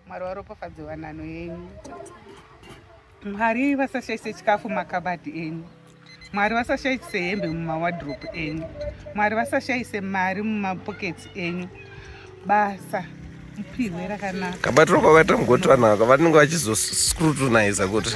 Mwari waropafadze wanano yenyu. Mwari vasashaise chikafu makabati enyu. Mwari vasashaise hembe mumawadropu enyu. Mwari vasashaise mari mumapoketsi enyu. Basa mupihwe rakanaka. Kabati roko vakaita mugoti vanhu ava vanenge vachizoscrutiniza kuti.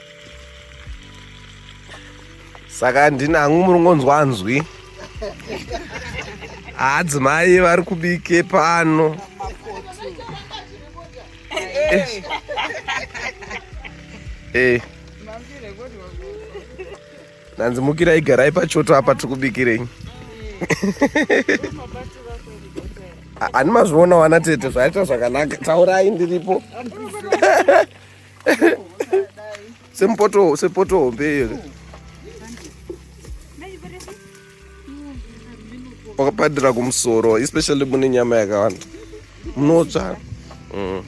saka ndini hangu muri ngonzwa nzwi adzimai vari kubike pano eh. Eh. nanzi mukira igarai pachoto apa tiri kubikirei ani mazviona wana tete zvaita zvakanaka taurai ndiripo Sempoto, sempoto hombe. Wakapadira kumusoro, especially mune nyama yakawanda. Munotsva. Mm.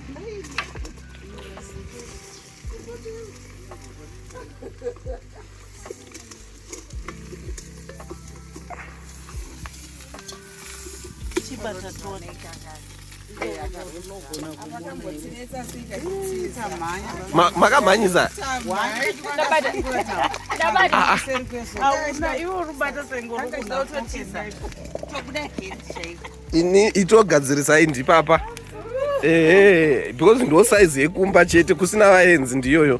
makamhanyisa ini itogadzirisai ndipapa ehe because ndo saizi yekumba chete kusina vaenzi ndiyoyo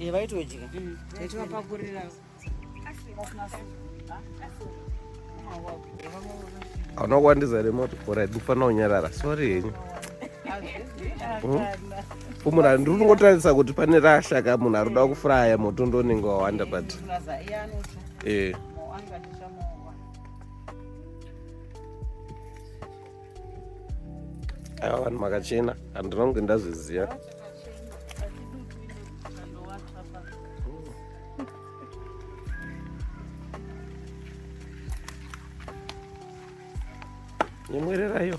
Eh, vaitodya mm. taivapakurira anowandiza here moti bhora idufana unyarara sori henyu hmm? munhu andiri kungotarisa kuti pane rashaka munhu ari kuda kufuraya moto ndonenge wawanda but ee eh. aiwa vanhu makachena handinonge ndazviziva nyemwerera iyo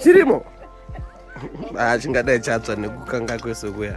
chirimo ah, chingadai chatsva nekukanga kwese kuya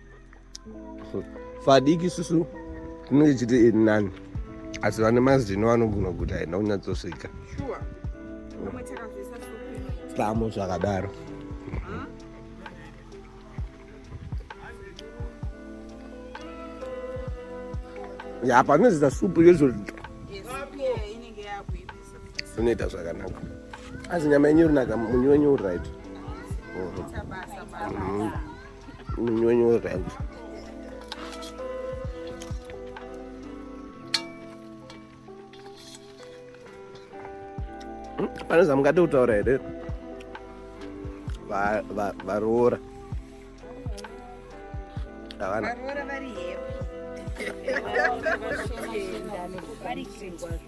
vadiki susu tinenge chiti iri nani asi vane mazino vanogona kuti haina kunyatsosvika pamo zvakadaro ya panozoita supu yozoti zvinoita zvakanaka asi nyama yenyu rinaka munyu wenyu uright mm-hmm. Minyonyo rangu. Hmm, pane zvamungade kutaura here varoora havana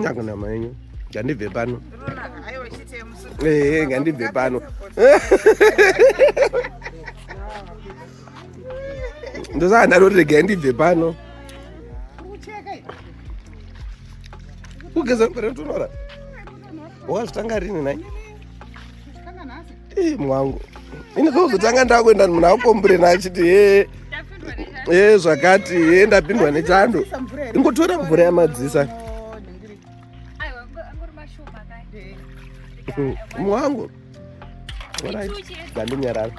nyakunama yenyu ngandibve pano ehe ngandibve pano ndosaka ndaroti regai ndibve pano kugeza mupere tonora wakazvitanga rini nai Ii mwangu. Ini zozotanga ndakuenda munhu akukomburena achiti hee ee zvakati ee ndapindwa nechando ingotora mvura yamadzisa mwangu ndandinyarara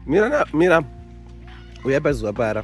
mira mira uya pazuva para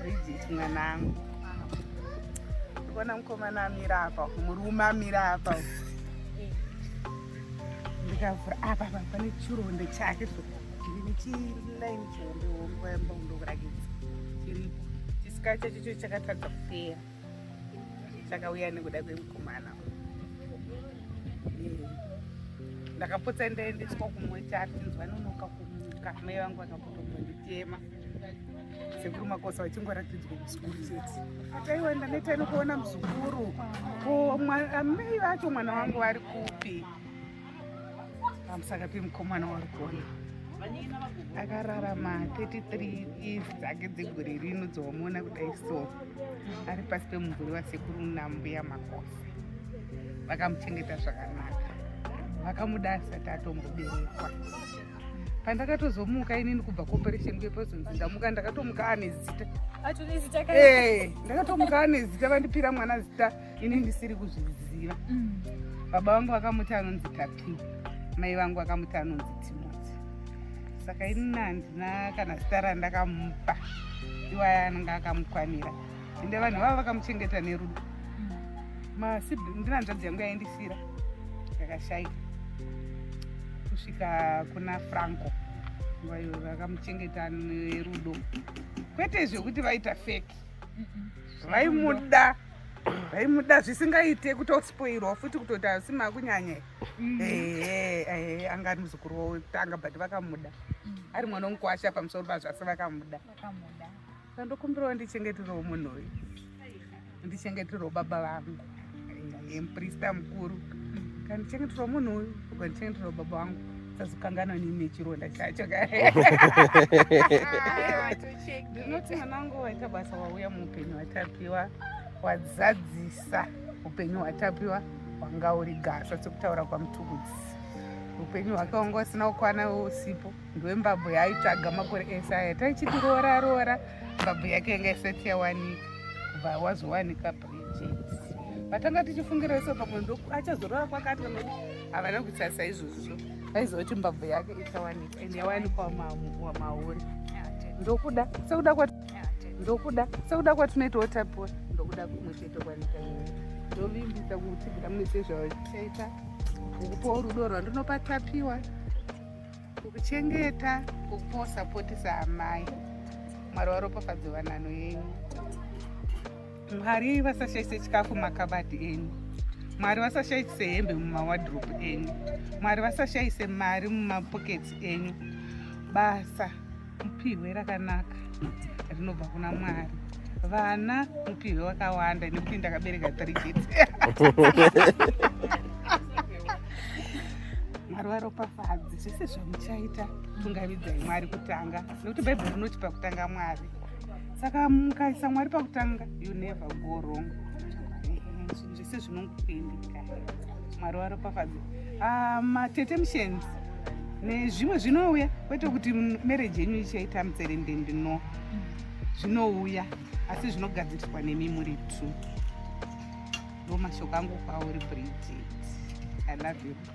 Bridget mwanangu. Ndikuona mukomana amira apa, murume amira apa. Ndikavhura apa apa pane chironde chake so. Ndine chiline chihombe hombe yamba kundokurakidza. Chiripo. Chisika chacho cho chakatadza kupera. Chakauya nekuda kwemukomana. Ndakapotsa ndaendeswa kumwe chati nzwa nonoka kumuka. Mai vangu vakapotombonditema. sekuru makosa vachingoratidzwa muzukuru chete ataiwa ndaneta inokuona muzukuru amai vacho mwana wangu vari kupi amusaka pemukomana wari kuona akararama 33 years dzake dzegore rino dzomuona kudai so ari pasi pemumvuri wasekuru nambuya makosa vakamuchengeta zvakanaka vakamuda asati atomboberekwa pandakatozomuka inini kubva cooperation kwepresence ndamuka ndakatomuka ane zita eh, ndakatomuka ane zita vandipira mwana zita ini ndisiri kuzviziva mm. baba vangu vakamuti anonzi tapi mai vangu vakamuti anonzi timoti saka inini handina kana zita randakamupa iwaya anenge akamukwanira ende vanhu vava vakamuchengeta nerudo ndinanzvadzi yangu yaindisira yakashaika kusvika kuna franco vayo vakamuchengeta nerudo kwete zvekuti vaita fake vaimuda vaimuda zvisingaite kutospoirwa futi kutoti asi makunyanya mm. ehe anga ari muzukuru wavo kutanga but vakamuda ari mwana womukwasha pamusoro pazvasi vakamuda Ndokumbirawo ndichengeterewo munhu uyu, ndichengeterewo baba vangu, muprista mukuru, kandichengeterewo munhu uyu, kandichengeterewo baba vangu sazokanganwa nini nechironda chacho ndinoti mwanangu waita basa wauya muupenyu watapiwa wazadzisa upenyu hwatapiwa hwanga uri gasa sekutaura kwamutukudzi upenyu hwake wanga usina kukwana usipo ndiwe mbabvu yaaitsvaga makore ese aya taichiti roora roora mbabvu yake yanga isati yawanika kubva wazowanika bridget vatanga tichifungira iso pamwe ndo achazorora kwakati vanokuti havana kuita saizvozvo vaiziva kuti mbabvu yake ichawanika and yawanikwa wamauri ndokuda sekuda kwa ndokuda sekuda kwatinoitawo tapiwa ndokuda kumwe chete kwanika ndovimbisa kutsigira mune sezvavachaita ukupawo rudo rwandinopa tapiwa kukuchengeta kukupa usapoti saamai mwari waropafadzo vanano yenyu mwari vasashaise chikafu makabati enyu mwari vasashaise hembe mumawadrop enyu mwari vasashaise mari mumapokets enyu basa mupihwe rakanaka rinobva kuna mwari vana mupihwe wakawanda nekuti ndakabereka three kids mwari varopafadzi zvese zvamuchaita tungavidzai mwari kutanga nekuti bhaibheri rinoti pakutanga mwari saka mukaisa mwari pakutanga you never go wrong zvese zvinongokuendeka mwari waropafadza ah, matete mushenzi nezvimwe zvinouya kwete kuti mereji yenyu ichaita mutserendende no zvinouya asi zvinogadziriswa nemi muri two ndo mashoko angu kwauri bridget i love you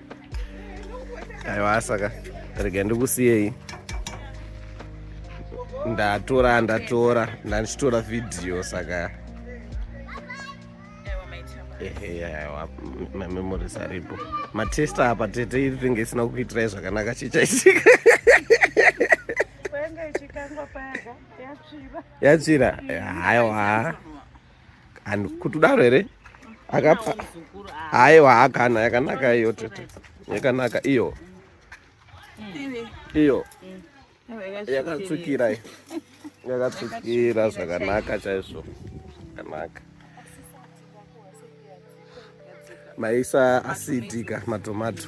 aiwa saka rega ndikusiyei ndatora ndatora ndandichitora vhidhiyo saka mamemories aripo matesta apa tete iri tinge isina kukuitirai zvakanaka chichaitika yatsvira haiwa and kuti udaro here akapa haiwa hakana yakanaka iyo tete yakanaka iyo iyo yakatsukira iyo yakatsukira zvakanaka chaizvo zvakanaka maisa asidika matomato